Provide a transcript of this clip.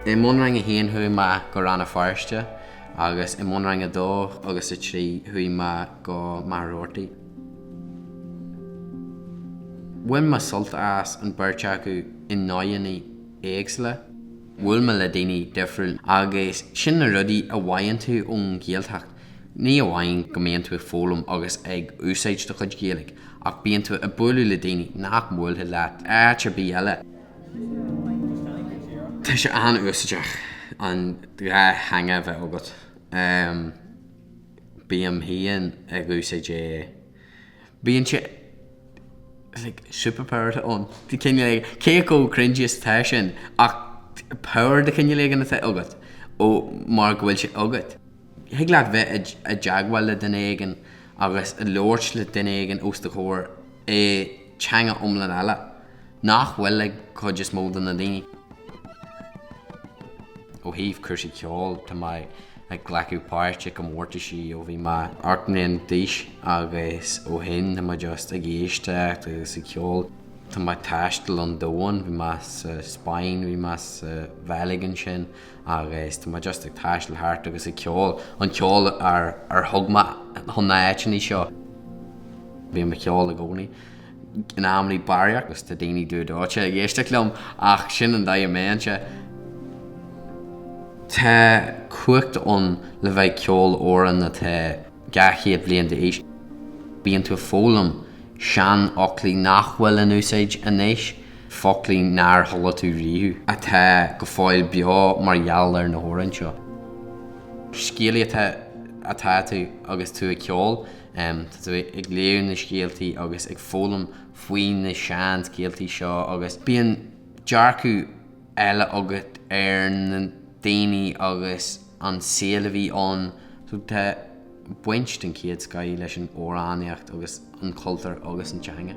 I mBunrang 1 chuaigh mé go Rann na Feirste agus i mBunrang 2 agus 3 chuaigh mé go Machaire Rabhartaigh. Bhain mé sult as an beirt acu i ndóigheanna éagsúla. Bhuail mé le daoine difriúla agus sin na rudaí a bhfaigheann tú ón Ghaeltacht. Ní amháin go mbíonn tú ag foghlaim agus ag úsáid do chuid Gaeilge, ach bíonn tú ag bualadh le daoine nach mbuailfeadh leat áit ar bith eile. Tá sé an-úsáideach an dhá theanga a bheith agat. Bím féin ag úsáid é. Bíonn sé like superpower, I don't. cineál cé chomh cringy is atá sin ach power de chineál éigin atá agat ó mar go bhfuil sé agat. Thig leat bheith i dteagmháil le duine éigin agus labhairt le duine éigin os do chomhair i dteanga iomlán eile nach bhfuil ag an chuid is mó de na daoine. Ó thaobh cúrsaí ceoil, tá mé ag glacadh páirt i gcomórtaisí ó bhí mé ocht mbliana d'aois agus ó shin tá mé just ag éisteacht agus ag ceol. Tá mé ag taisteal an domhain, bhí mé sa Spáinn, bhí mé sa Bheilg ansin, agus tá mé just ag taisteal thart agus ag ceol, an ceol ar thug mé chun na n-áiteannaí seo. Bím ag ceol i gcónaí in am le barraíocht agus tá daoine dúdóite ag éisteacht liom, ach sin an dóigh a mbímse. Tá cumhacht ann le bheith ag ceol amhráin atá. dhá chéad bliain d'aois, bíonn tú ag foghlaim seanfhoclaí nach bhfuil in úsáid anois, foclaí nár chuala tú riamh, atá go fóill beo mar gheall ar na hamhráin seo. Scéalaí atá atá tú agus tú ag ceol, tá tú ag léamh na scéaltaí agus ag foghlaim faoi na seanscéaltaí seo agus bíonn dearcadh, eile agat ar na daoine agus an saol a bhí ann, so tá baint den chéad scoth leis an amhránaíocht agus an cultúr agus an teanga.